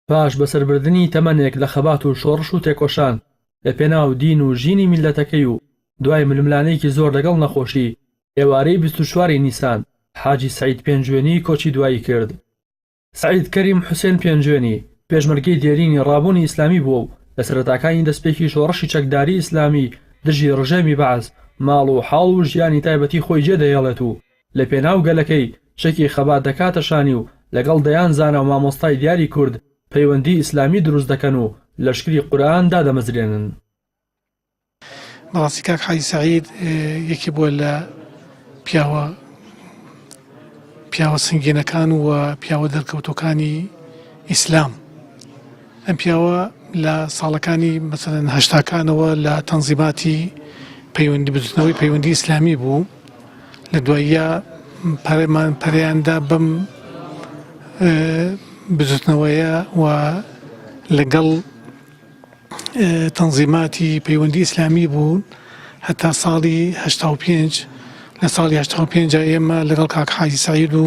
پاش بەسەربردنی تەمەنێک لە خەبات و شۆڕش و تێکۆشان لە پێناو دین و ژینی میللەتەکەی و دوای ململانێیکی زۆر لەگەڵ نەخۆشی، ئێوارەی بیست و چوار ی نیسان، حاجی سەعید پێنجوێنی کۆچی دوایی کرد. سەعید کەریم حوسێن پێنجوێنی، پێشمەرگەی دێرینی ڕابوونی ئیسلامی بووە و لە سەرەتاکانی دەستپێکی شۆڕشی چەکداری ئیسلامی دژی ڕژێمی بەعس، ماڵ و حاڵ و ژیانی تایبەتی خۆی جێدەهێڵێت و، لە پێناو گەلەکەی چەکی خەبات دەکاتە شانی و لەگەڵ دەیان زانا و مامۆستای دیاری کورد پەیوەندی ئیسلامی دروست دەکەن و لەشکری قورئان دادەمەزرێنن. بەڕاستی کاک حاجی سەعید یەکێ بووە لە پیاوە پیاوە سنگینەکان و پیاوە دەرکەوتوەکانی ئیسلام. ئەم پیاوە لە ساڵەکانی مەسەلەن هەشتاکانەوە لە تەنزیماتی پەیوەندی بزوتنەوەی پەیوەندی ئیسلامی بوو لە دواییە پەرێمان پەریاندا بەم بزوتنەوەیە و لەگەڵ تەنزیماتی پەیوەندی ئیسلامی بوون هەتا ساڵی هەشتا و پێنج لە ساڵی هەشتا و پێنج ئێمە لەگەڵ کاک حاجی سەعید و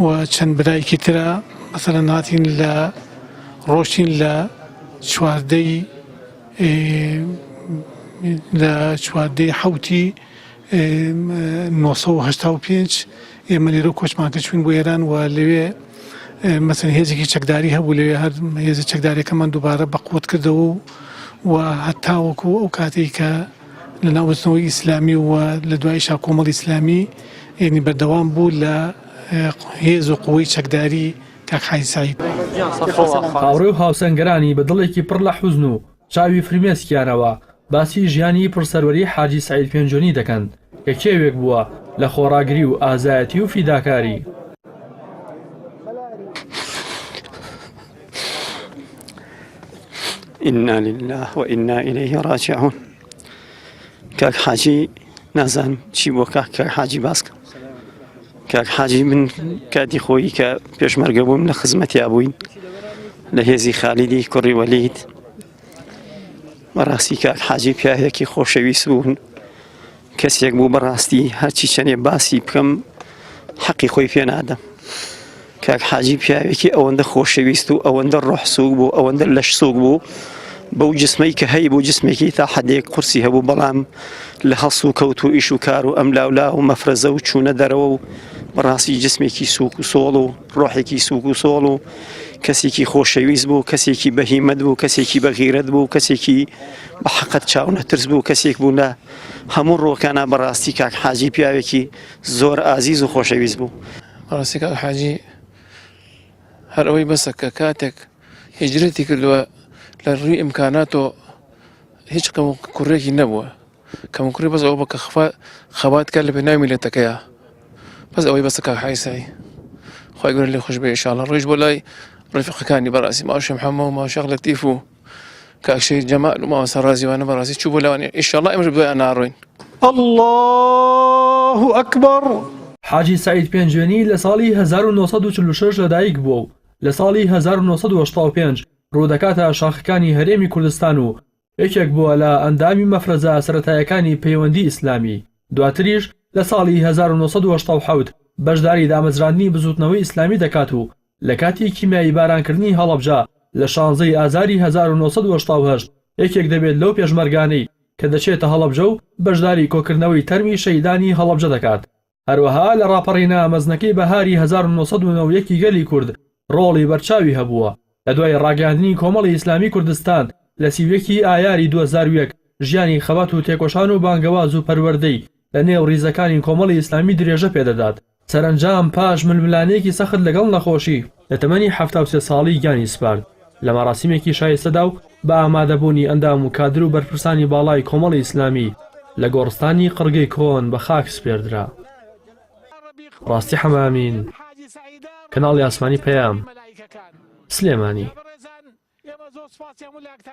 و چەند برایەکی ترا مەسەلەن هاتین لە ڕۆشتین لە چواردەی لە چواردەی حوتی 1985 ئێمە لێرە کۆچمان کرد چوین بۆ ئێران و لەوێ مەسن هێزێکی چەکداری هەبوو لەوێ هەر هێزە چەکدارەکەمان دووبارە بەقوت کردەوە و و هەتاوەکو ئەو کاتێک کە لە ناو بزنەوەی ئیسلامی و لە دوایشا کۆمەڵی ئیسلامی یعنی بەردەوام بوو لە هێز و قوەی چەکداری کاک حاجی سەعید. هاوڕێ و هاوسەنگەرانی بە دڵێکی پڕ لە حوزن و چاوی فرمێسکیانەوە باسی ژیانی پڕ سەروەری حاجی سەعید پێنجۆنی دەکەن کە کێوێک بووە لە خۆڕاگری و ئازایەتی و فیداکاری. ئینا لله و ئینا ئیلەیه ڕاجعون کاک حاجی نازان چی بۆ کاک کاک حاجی باسکە کاک حاجی من کاتی خۆی کە پێشمەرگە بووم لە خزمەتیا بووین لە هێزی خالیدی کوڕی وەلیت بەڕاستی کاک حاجی پیاهێکی خۆشەویست بوون کەسێک بوو بەڕاستی هەرچی چەنێ باسی بکەم حەقی خۆی پێ نادەم کاک حاجی پیاوێکی ئەوەندە خۆشەویست و ئەوەندە ڕۆحسوک بوو ئەوەندە لەش سوک بوو بەو جسمەی کە هەی بۆ جسمێکی تا حەدێک قورسی هەبوو بەڵام لە هەڵس و کەوت و ئیش و کار و ئەم لاولا و مەفرەزە و چوونە دەرەوە و بەڕاستی جسمێکی سوک و سۆڵ و ڕۆحێکی سوک و سۆڵ و کەسێکی خۆشەویست بوو کەسێکی بەهیمەت بوو کەسێکی بەغیرەت بوو کەسێکی بە حقت چاونەترس بوو کەسێک بوو لە هەموو ڕووەکانا بەڕاستی کاک حاجی پیاوێکی زۆر ئازیز و خۆشەویست بوو ڕاستی کاک حاجی هەر ئەوەی بەسە کە کاتێک هجرەتی کردووە لە ڕووی ئیمکاناتۆ هیچ کەم و کوڕێکی نەبووە کەم کوڕی بەس ئەو بە کە خفا خەبات کە لە پێناوی لێتەکەیە بەس ئەوەی بەسە کاک حیسایی خۆی گەر لێ خوش بێ شاڵە ڕۆژ بۆ لای ڕفقەکانی بەڕاستی ماوشم حەمە و ماوشەق لە تیف و کاک شەهید جەمال و مامۆستا ڕازیوانە بەڕاستی چوو بۆ لاوانی ئیشەڵا ئێمەش بۆیان ناڕۆین اللە ئەکبەر حاجی سەعید پێنجوێنی لە ساڵی 1946 لەدایک بووە و لە ساڵی 1985 ڕوودەکاتە شاخەکانی هەرێمی کوردستان و یەکێک بووە لە ئەندامی مەفرەزە سەرەتایەکانی پەیوەندی ئیسلامی دواتریش لە ساڵی 1970 بەشداری دامەزراندنی بزووتنەوەی ئیسلامی دەکات و لە کاتی کیمیاییبارانکردنی هەڵەبجە لە شانزەی ئازاری هەزار و نۆ سەد و هەشتا و هەشت، یەکێک دەبێت لەو پێشمەرگانەی کە دەچێتە هەڵەبجە و بەشداری کۆکردنەوەی تەرمی شەهیدانی هەڵەبجە دەکات. هەروەها لە ڕاپەڕینە مەزنەکەی بەهاری هەزار و نۆ سەد و نۆ و یەکی گەلی کورد ڕۆڵی بەرچاوی هەبووە. لە دوای ڕاگەیاندنی کۆمەڵی ئیسلامی کوردستان لە سی و یەک ی ئایاری دوو هەزار و یەک، ژیانی خەبات و تێکۆشان و بانگەواز و پەروەردەی، لە نێو ریزەکانی کۆمەڵی ئیسلامی درێژە پێ دەدات، سەرەنجام پاش ململانێیەکی سەخت لەگەڵ نەخۆشی، لە تەمەنی حەفتا و سێ ساڵی گیانی سپارد، لە مەراسیمێکی شایستەدا و بە ئامادەبوونی ئەندام و کادر و بەرپرسانی باڵای کۆمەڵی ئیسلامی، لە گۆڕستانی قڕگەی کۆن بە خاک سپێردرا. ڕاستی حەمامین، کەناڵی ئاسمانی پەیام، سلێمانی.